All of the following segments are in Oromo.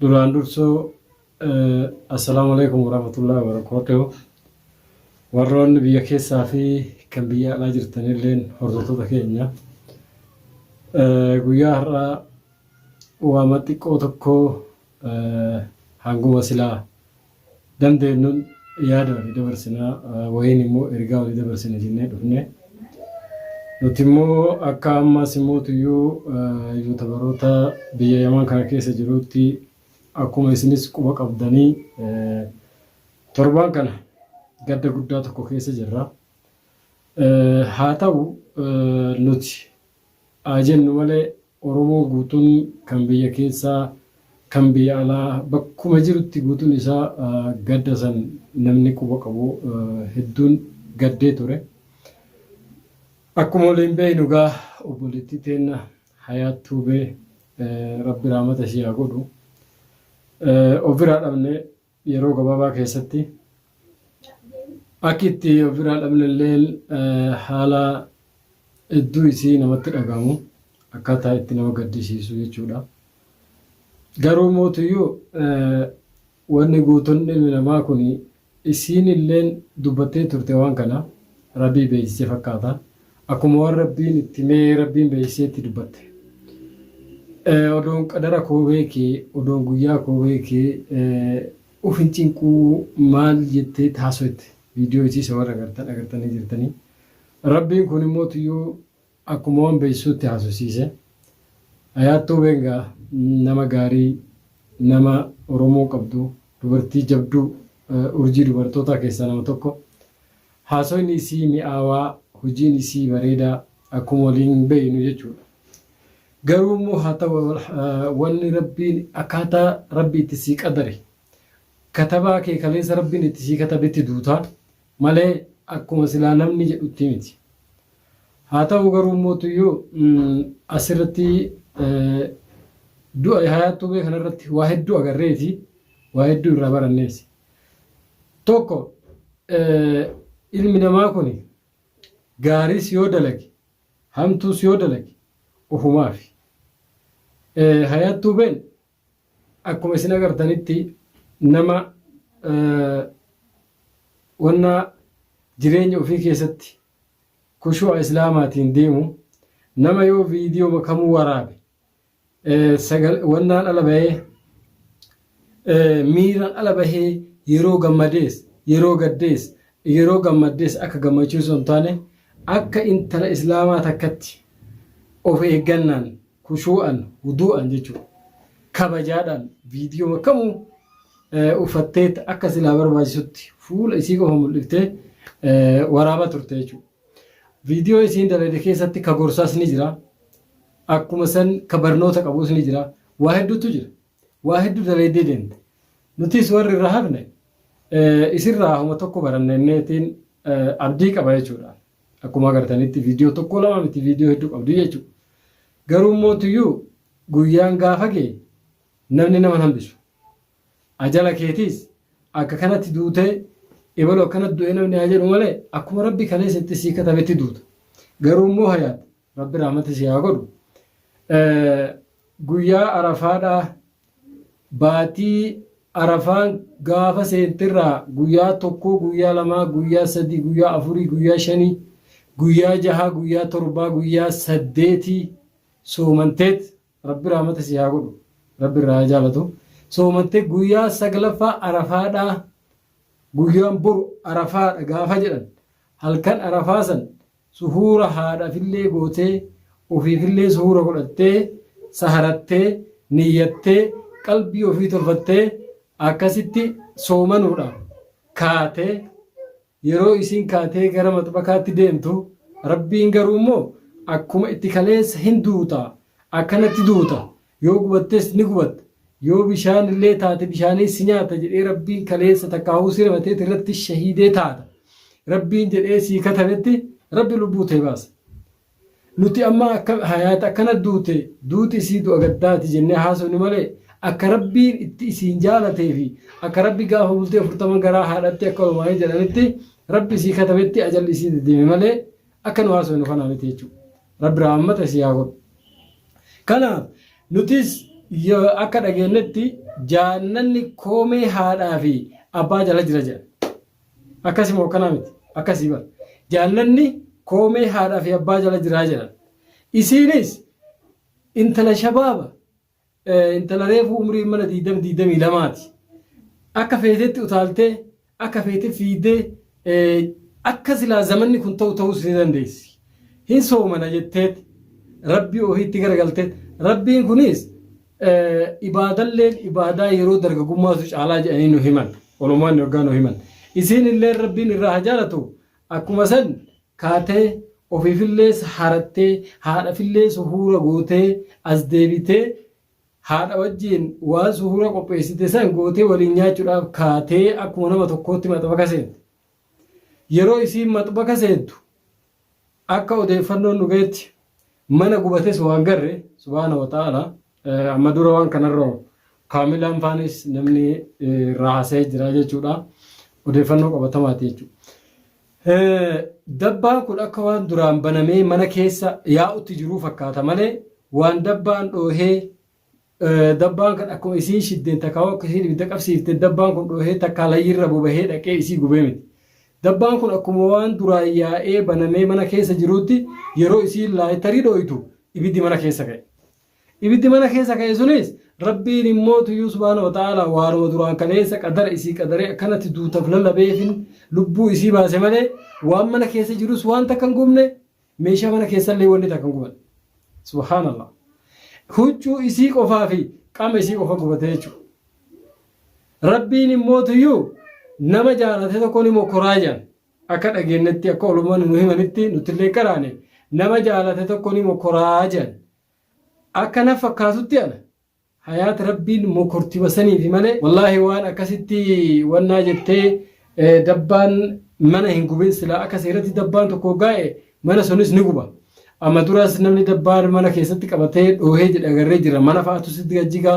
Duraan dursoo assalaamu alaikum warahmatullahi wabarakatuh. Warroonni biyya keessaa fi kan biyya alaa jirtan illeen hordoftoota keenya. Guyyaa har'aa waama xiqqoo tokko hanguma silaa dandeenyuun yaada walii dabarsinaa, wayiin immoo ergaa walii dabarsina jennee dhufne. Nuti immoo akka ammaas immoo tuyyuu yuutabaroota biyya Yaman kana keessa jiruutti akkuma isinis quba qabdanii torbaan kana gadda guddaa tokko keessa jirra. Haa ta'u nuti haa jennu malee Oromoo guutun kan biyya keessaa kan biyya alaa bakkuma jirutti guutun isaa gadda san namni quba qabu hedduun gaddee ture. Akkuma waliin beeynu egaa obboleettii teenna Hayaat Tuubee Rabbi Rahmata ishii haa godhu ofiraa dhabne yeroo gabaabaa keessatti akki itti of biraa dhabne illee haala hedduu isii namatti dhagahamu akkaataa itti nama gaddisiisu jechuudha. Garuu mootuyyuu wanni guutuun ilmi namaa kun isiin illeen dubbattee turte waan kana rabii beeksise fakkaata. Akkuma waan Rabbiin itti himee Rabbiin beeksisee itti dubbatte. Eh, Odoon qadara koo beekee, odoon guyyaa koo beekee, eh, uf hin cinquu maal jettee taasofte. Viidiyoo isii isa warra agartan agartanii jirtanii. Rabbiin kun immoo tuyyuu akkuma waan beeksisuutti haasofsiise. Ayaattuu Beengaa nama gaarii, nama Oromoo qabdu, dubartii jabduu, eh, urjii dubartootaa keessaa nama tokko. Haasoyni isii mi'aawaa, hojiin isii bareedaa akkuma waliin beeynu jechuudha. Garuu immoo haa ta'u wanni Rabbiin akkaataa Rabbi itti sii qadare, katabaa kee kaleessa Rabbiin itti sii katabetti duuta malee akkuma silaa namni jedhutti miti. Haa ta'u garuu immoo tuyyuu as irratti du'a Hayaat Tuubee kana irratti waa hedduu agarreeti, waa hedduu irraa baranneesi. Tokko ilmi namaa kuni gaariis yoo dalage hamtuus yoo dalage ofumaafi. Hayaat Tuubeen akkuma isin agartanitti nama wanna jireenya ofii keessatti kushu'a islaamaatiin deemu nama yoo viidiyooma kamuu waraabe sagal wannaan ala bahee miiran ala bahee yeroo gammadees yeroo gaddees yeroo gammaddees akka gammachuu osoo hin taane akka intala islaamaa takkatti of eeggannaan kushuu'an wuduu'an jechuudha kabajaadhaan viidiyoo kamuu uffatteetti akka silaa barbaachisutti fuula isii qofa mul'iftee waraabaa turte jechuudha. Video isiin dalayde keessatti ka gorsaas ni jira. Akkuma san ka barnoota qabuus ni jira. Waa hedduutu jira. Waa hedduu dalaydee deemte. Nutis warri irra hafne eh, isirraa homa tokko baranne inneetiin eh, abdii qaba jechuudha. Akkuma agartanitti viidiyoo tokko lama miti viidiyoo hedduu qabdi jechuudha. Garuu immoo tuyyuu guyyaan gaafa ga'e namni nama hin hambisu. Ajala keetiis akka kanatti duutee ebalu akkanatti du'e namni haa jedhu malee akkuma rabbi kaleessa itti sii katabetti duuta. Garuu immoo hayaat rabbi rahmata sii haa godhu. Guyyaa arafaadhaa baatii arafaan gaafa seentirraa guyyaa tokkoo guyyaa lamaa guyyaa sadii guyyaa afurii guyyaa shanii guyyaa jahaa guyyaa torbaa guyyaa saddeetii soomanteet Rabbi rahmata sii haa godhu. Rabbi irraa haa jaalatu. Soomattee guyyaa saglaffaa arafaadhaa guyyaan boru arafaadha gaafa jedhan halkan arafaa san suhuura haadhafillee gootee ofiifillee suhuura godhattee saharattee niyyattee qalbii ofii tolfattee akkasitti soomanuudha kaatee Yeroo isiin kaatee gara maxbakaatti deemtu, Rabbiin garuu immoo akkuma itti kaleessa hin duuta, akkanatti duuta, yoo gubattes ni gubatta, yoo bishaan illee taate bishaaniin si nyaata jedhee Rabbiin kaleessa takkaahuu si rimatee tirratti shahiidee taata Rabbiin jedhee sii katabetti Rabbi lubbuu tee baasa. Nuti amma akka Hayaat akkana duute, duuti isii du'a gaddaati jennee haasofne malee, akka Rabbiin itti isiin jaalatee fi akka Rabbi gaafa bultii 40 garaa haadhatti akka ulmaa'ee jedhanitti Rabbi isii katabetti ajalli isii deddeeme malee, akka nu haasofnu kanaa miti jechuudha. Rabbi rahaammata isii haa godhu. Kanaaf, nutis yoo akka dhageennetti jaannanni koomee haadhaa fi abbaa jala jira jedhan. Akkasi moo akkanaa miti? Akkasi bar. Jaallanni koomee haadhaa fi abbaa jala jiraa jedhan. Isiinis intala shabaaba eh, intala reefuu umriin mana 20 22 ti. Akka feetetti utaaltee akka feete fiidee eh, akka silaa zamanni kun ta'u ta'uus ni dandeessi. Hin soomana jetteet rabbii ofiitti garagalteet rabbiin kunis ibaadalleen ibaadaa yeroo dargagummaatu caalaa jedhanii nu himan olomaan yoggaa nu himan isiin illee rabbiin irraa haa jaalatu akkuma san kaatee ofiifillee harattee haadhafillee suhuura gootee as deebitee haadha wajjiin waan suhuura qopheessite san gootee waliin nyaachuudhaaf kaatee akkuma nama tokkootti maxafa kaseente Yeroo isiin maxbaka seentu akka odeeffannoon nu gahetti mana gubates waan garre subhaana wa ta'aala amma dura waan kanarra kaamilaan faanis namni irraa haasa'ee jira jechuudha odeeffannoo qabatamaati jechuudha. Dabbaan kun akka waan duraan banamee mana keessa yaa'utti jiruu fakkaata malee waan dabbaan dhoohee Dabbaan kan akkuma isiin shiddeen takkaawuu akka isiin ibidda qabsiifte dabbaan kun dhoohee takkaa layyirra bobahee dhaqee isii gubee miti. Dabbaan kun akkuma waan duraa yaa'ee banamee mana keessa jiruutti yeroo isiin laayitarii dhooytu ibiddi mana keessa ka'e. Ibiddi mana keessa ka'e sunis Rabbiin immoo tuyyuu subhaana wa ta'aala waanuma duraan kaleessa qadara isii qadaree akkanatti duutaf lallabeefin lubbuu isii baase malee waan mana keessa jirus waan takka hin gubne Meeshaa mana keessallee wanni takka hin gubanne. Subhaanallah. Huccuu isii qofaa fi qaama isii qofa gubate jechuudha. Rabbiin immoo tuyyuu nama jaalate tokko ni mokoraa jedhan. Akka dhageenyetti akka olumaan nu himanitti nuti illee qaraane nama jaalate tokko ni mokoraa jedhan. Akka na fakkaatutti ana Hayaat rabbiin mokortima saniifi malee wallahi waan akkasitti wannaa jettee dabbaan mana hin gubin silaa akka seeratti dabbaan tokko hoggaa'e mana sunis ni guba amma duras namni dabbaan mana keessatti qabatee dhoohee jedhe agarree jira mana fa'aatu sitti gajjigaa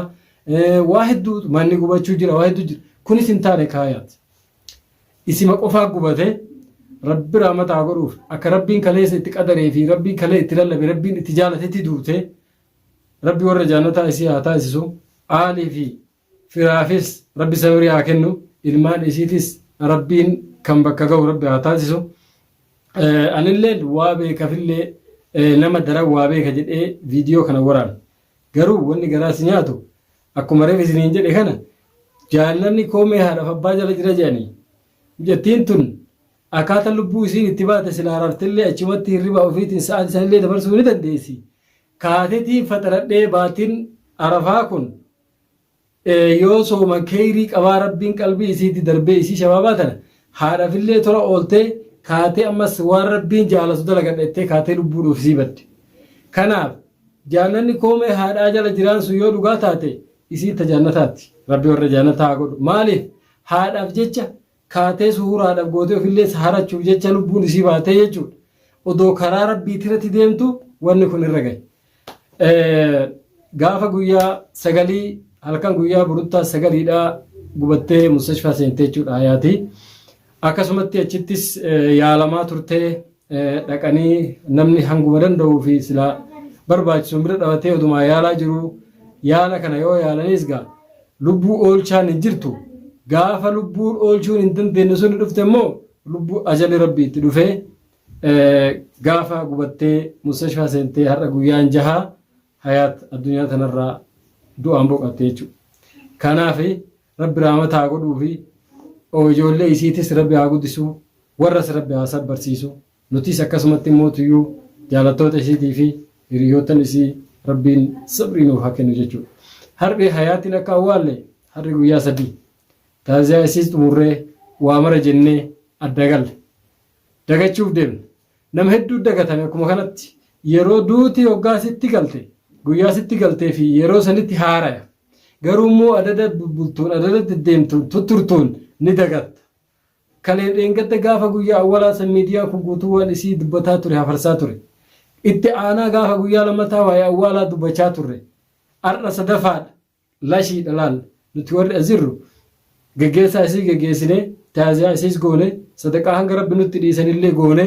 waa hedduu manni gubachuu jira waa hedduu jira kunis hin taane kaayaat isima qofaa gubate rabbi raamataa godhuuf akka rabbiin kaleessa itti qadaree fi rabbiin kalee itti lallabe rabbiin itti jaalatetti duute Rabbi warra jaannataa isii haa taasisu, aalii fi firaafis Rabbi sabirii haa kennu, ilmaan isiitis Rabbiin kan bakka gahu Rabbi haa taasisu. Anilleen waa beekafillee nama daran waa beeka jedhee viidiyoo kana waraana. Garuu wanni garaa si nyaatu akkuma reef isiniin jedhe kana jaannanni koomee haadhaaf abbaa jala jira jedhanii. Mucattiin tun Akkaata lubbuu isiin itti baate silaa raftellee achumatti hirribaa ufiitiin sa'aati sanillee dabarsuu ni dandeessi. Kaatetiin faxaradhee baatiin Arafaa kun yoo sooman keeyrii qabaa Rabbiin qalbii isiiti darbee isii shabaabaa tana haadhafillee tola ooltee kaatee ammas waan Rabbiin jaalatu dalagadha jettee kaatee lubbuun ufisii badde. Kanaaf jaannanni koomee haadhaa jala jiraan sun yoo dhugaa taate isiin ta jaannataatti. Rabbi warra jaannataa haa godhu. Maaliif haadhaaf jecha kaatee suhuuraadhaf gootee ofillee saharachuuf jecha lubbuun isii baatee jechuudha. Odoo karaa rabbiitirratti deemtu wanni kun irra gahe. Gaafa guyyaa sagalii halkan guyyaa buruttaa sagaliidhaa gubattee mustashfaa seentee jechuudha hayaati. Akkasumatti achittis yaalamaa turtee dhaqanii namni hanguma danda'uu fi silaa barbaachisuun bira dhabatee odumaa yaalaa jiru yaala kana yoo yaalanis gaa lubbuu oolchaan hin jirtu gaafa lubbuun oolchuun hin dandeenye sun dhufte immoo lubbuu ajali rabbi itti dhufee gaafa gubattee mustashfaa seentee har'a guyyaan jahaa hayaat addunyaa tanarraa du'aan boqatte jechuudha. Kanaaf Rabbi raamata haa godhuufi oo ijoollee isiitis rabbi haa guddisuu warras rabbi haa sabbarsiisu nutiis akkasumatti immoo tuyyuu jaalattoota isiitii fi hiriyoottan isii rabbiin sabrii nuuf haa kennu jechuudha. Har'i hayaatiin akka awwaalle har'i guyyaa sadii taaziyaa isiis xumurree waa mara jennee adda galle dagachuuf deemne Nama hedduu dagatame akkuma kanatti yeroo duuti hoggaa sitti galte guyyaa sitti galtee fi yeroo sanitti haaraya. Garuu immoo adada bubbultuun adada deddeemtuun tutturtuun ni dagatta. Kaleef dheengadda gaafa guyyaa awwalaa san miidiyaan kun guutuu waan isii dubbataa ture hafarsaa ture. Itti aanaa gaafa guyyaa lammataa waa'ee awwaalaa dubbachaa turre. Har'a sadafaadha. Lashii dha laal! Nuti warri as jirru geggeessaa isii geggeessinee, taaziyaa isiis goone, sadaqaa hanga Rabbi nutti dhiisanillee goone,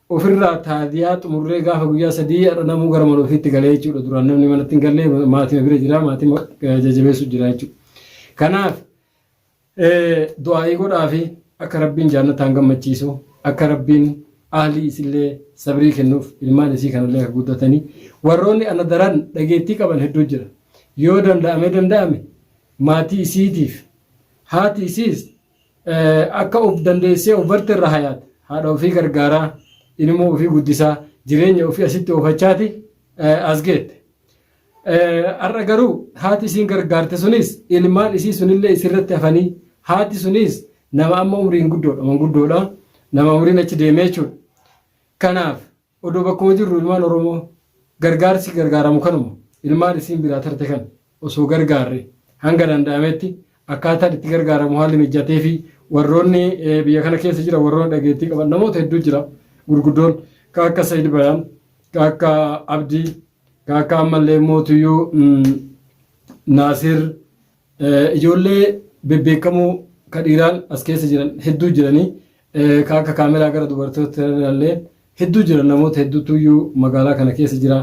ofirraa taaziyaa xumurree gaafa guyyaa sadii har'a namuu gara mana ofiitti galee jechuudha. Duraan namni manatti hin galle maatima bira jira, maatima jajjabeessu jira jechuudha. Kanaaf Du'aa'ii godhaafi akka Rabbiin jaannataan gammachiisu, akka Rabbiin ahlii isillee sabrii kennuuf, ilmaan isii kanallee akka guddatanii. Warroonni ana daran dhageettii qaban hedduu jira. Yoo danda'amee danda'ame maatii isiitiif haati isiis akka of dandeessee of barte irra hayaat haadha ofii gargaaraa ilmoo ofii guddisaa jireenya ofii asitti oofachaati as geette. Har'a garuu haati isiin gargaarte sunis ilmaan isii sunillee isirratti hafanii haati sunis nama amma umriin guddoodha manguddoodha nama umriin achi deemee jechuudha. Kanaaf odoo bakkuma jirru ilmaan Oromoo gargaarsi gargaaramu kanuma ilmaan isiin biraa tarte kan osoo gargaarre hanga danda'ametti akkaataan itti gargaaramu haalli mijatee fi warroonni biyya kana keessa jira warroonni dhageettii qaban namoota hedduu jira gurguddoon kan akka Sayid Bayaan kan akka Abdii Kaakkaa ammallee mootuyyuu Naasir ijoollee bebbeekamoo ka dhiiraan as keessa jiran hedduu jiranii ka akka kaameraa gara dubartoota illee hedduu jiran namoota hedduutuyyuu magaalaa kana keessa jira.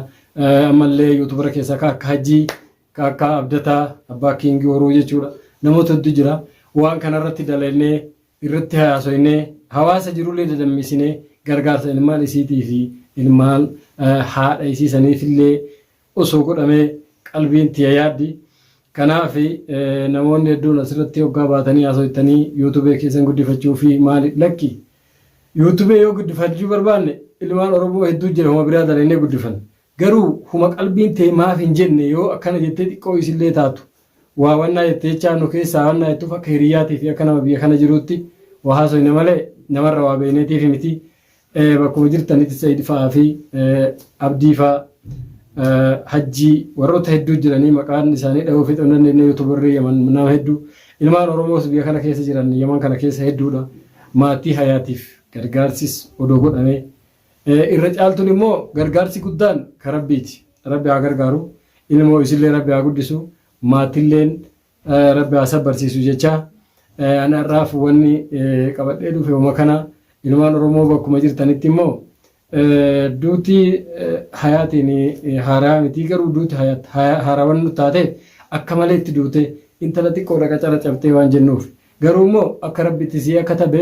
Ammallee yuutubara keessaa ka akka hajjii ka akka abdataa abbaa kiingii horuu jechuudha namoota hedduu jira. Waan kanarratti dalagnee irratti haasoynee hawaasa jirullee dadammisinee gargaarsa ilmaan isiitii fi ilmaan haadha isii saniifillee osoo godhamee qalbiin tiya yaaddi. Kanaaf namoonni hedduun asirratti hoggaa baatanii haasoytanii yuutubee keessan guddifachuu fi maali lakki yuutubee yoo guddifachuu barbaanne ilmaan Oromoo hedduu jira homa biraa dalaynee guddifanna. Garuu huma qalbiin tee maaf hin jenne yoo akkana jettee xiqqoo isillee taatu waa wannaa jette jechaa nu keessaa wannaa jettuuf akka hiriyyaatii fi akka nama biyya kana jiruutti waa haasoyne malee namarra waa beeyneetiif miti bakkuma jirtanitti Said fa'aa fi Abdii fa'aa Hajjii warroota hedduu jiranii maqaan isaanii dhahuu fixuu hin dandeenye yuutubarrii Yaman nama hedduu ilmaan Oromoos biyya kana keessa jiran Yaman kana keessa hedduudha maatii hayaatiif gargaarsis odoo godhamee Irra caaltuun immoo gargaarsi guddaan ka Rabbiiti. Rabbi haa gargaaru. Ilmoo isillee Rabbi haa guddisu. Maatilleen Rabbi haa sabbarsiisu jechaa. Ani har'aaf wanni qabadhee dhufe uma kana ilmaan Oromoo bakkuma jirtanitti immoo duuti hayaatiin haaraa miti garuu duuti haarawan nu taate akka malee itti duute intala xiqqoodha qacara cabtee waan jennuuf. Garuu immoo akka Rabbitti sii akka tabe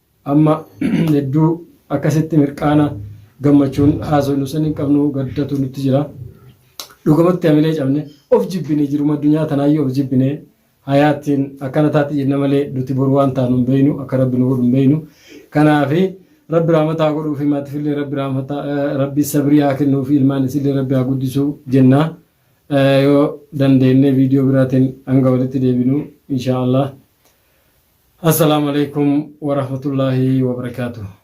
Amma hedduu akkasitti mirqaana gammachuun haasofnu san hin qabnu gaddatu nutti jira. Dhugumatti hamilee cabne of jibbine jiruma addunyaa tanaayyuu of jibbine hayaattiin akkana taatti jenna malee nuti boru waan taanu hin beeynu akka rabbi nu godhu hin beeynu. Kanaafi rabbi rahmata haa godhuufi maatifillee rabbi rahmata rabbi sabrii haa kennuufi ilmaan isillee rabbi haa guddisu jenna. Yoo dandeenne viidiyoo biraatiin hanga walitti deebinu inshaa Allah. Asalamu aleykum warahmatullahi wabarakatuh